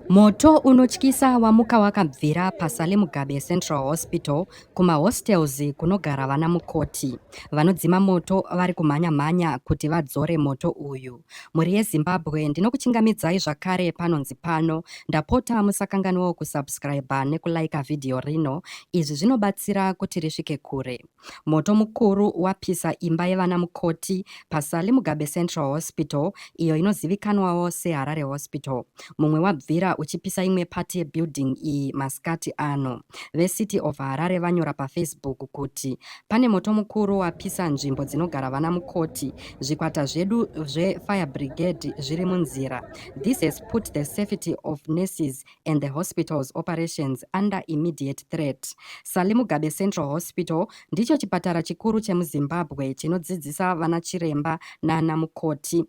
Moto unotyisa wamuka wakabvira paSale Mugabe Central Hospital kumahostels kunogara vana mukoti. Vanodzima moto vari kumhanya-mhanya kuti vadzore moto uyu. Mhuri yeZimbabwe ndinokuchingamidzai zvakare panonzi pano. Ndapota musakanganwawo kusubscriber nekulaika vhidhiyo rino. Izvi zvinobatsira kuti risvike kure. Moto mukuru wapisa imba yevana mukoti paSally Mugabe Central Hospital iyo inozivikanwawo seHarare Hospital. Mumwe wabvira uchipisa imwe part yebuilding iyi masikati ano. VeCity of Harare vanyora paFacebook kuti pane moto mukuru wapisa nzvimbo dzinogara vana mukoti. Zvikwata zvedu zveFire Brigade zviri munzira. This has put the safety of nurses and the hospital's operations under immediate threat. Sally Mugabe Central Hospital ndicho chipatara chikuru chemuZimbabwe chinodzidzisa vana chiremba nana mukoti.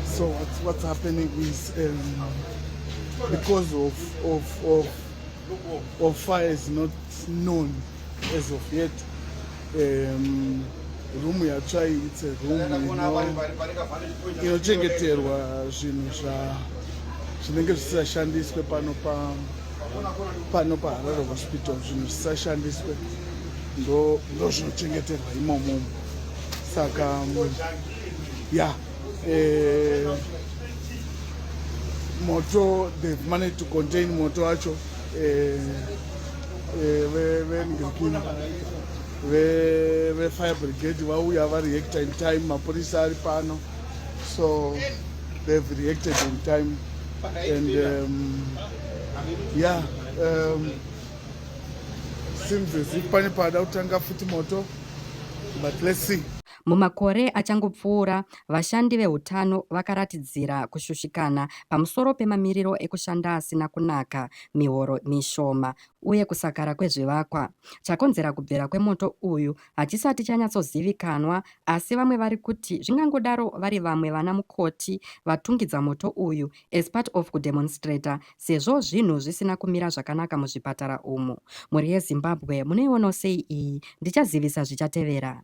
So what's, what's happening is um, because of, of, of, of fire is not known. As of yet, um, room yatsvai it's a room inochengeterwa zvinhu zvinenge zvisashandiswe pano pa pano paharare hospital zvinhu zvisashandiswe ndozvinochengeterwa ndo imomo saka mm, ya eh, moto they've managed to contain moto wacho eh, vefire brigade vauya vareacta in time mapurisa ari pano so they've reacted in time and um, yeah um, seems as if pane paada kutanga futi moto but let's see Mumakore achangopfuura, vashandi veutano vakaratidzira kushushikana pamusoro pemamiriro ekushanda asina kunaka mihoro mishoma uye kusakara kwezvivakwa. Chakonzera kubvira kwemoto uyu hachisati chanyatsozivikanwa asi vamwe vari kuti zvingangodaro vari vamwe vana mukoti vatungidza moto uyu as part of kudemonstrator sezvo zvinhu zvisina kumira zvakanaka muzvipatara umu. Mhuri yeZimbabwe munoionawo sei iyi? Ndichazivisa zvichatevera.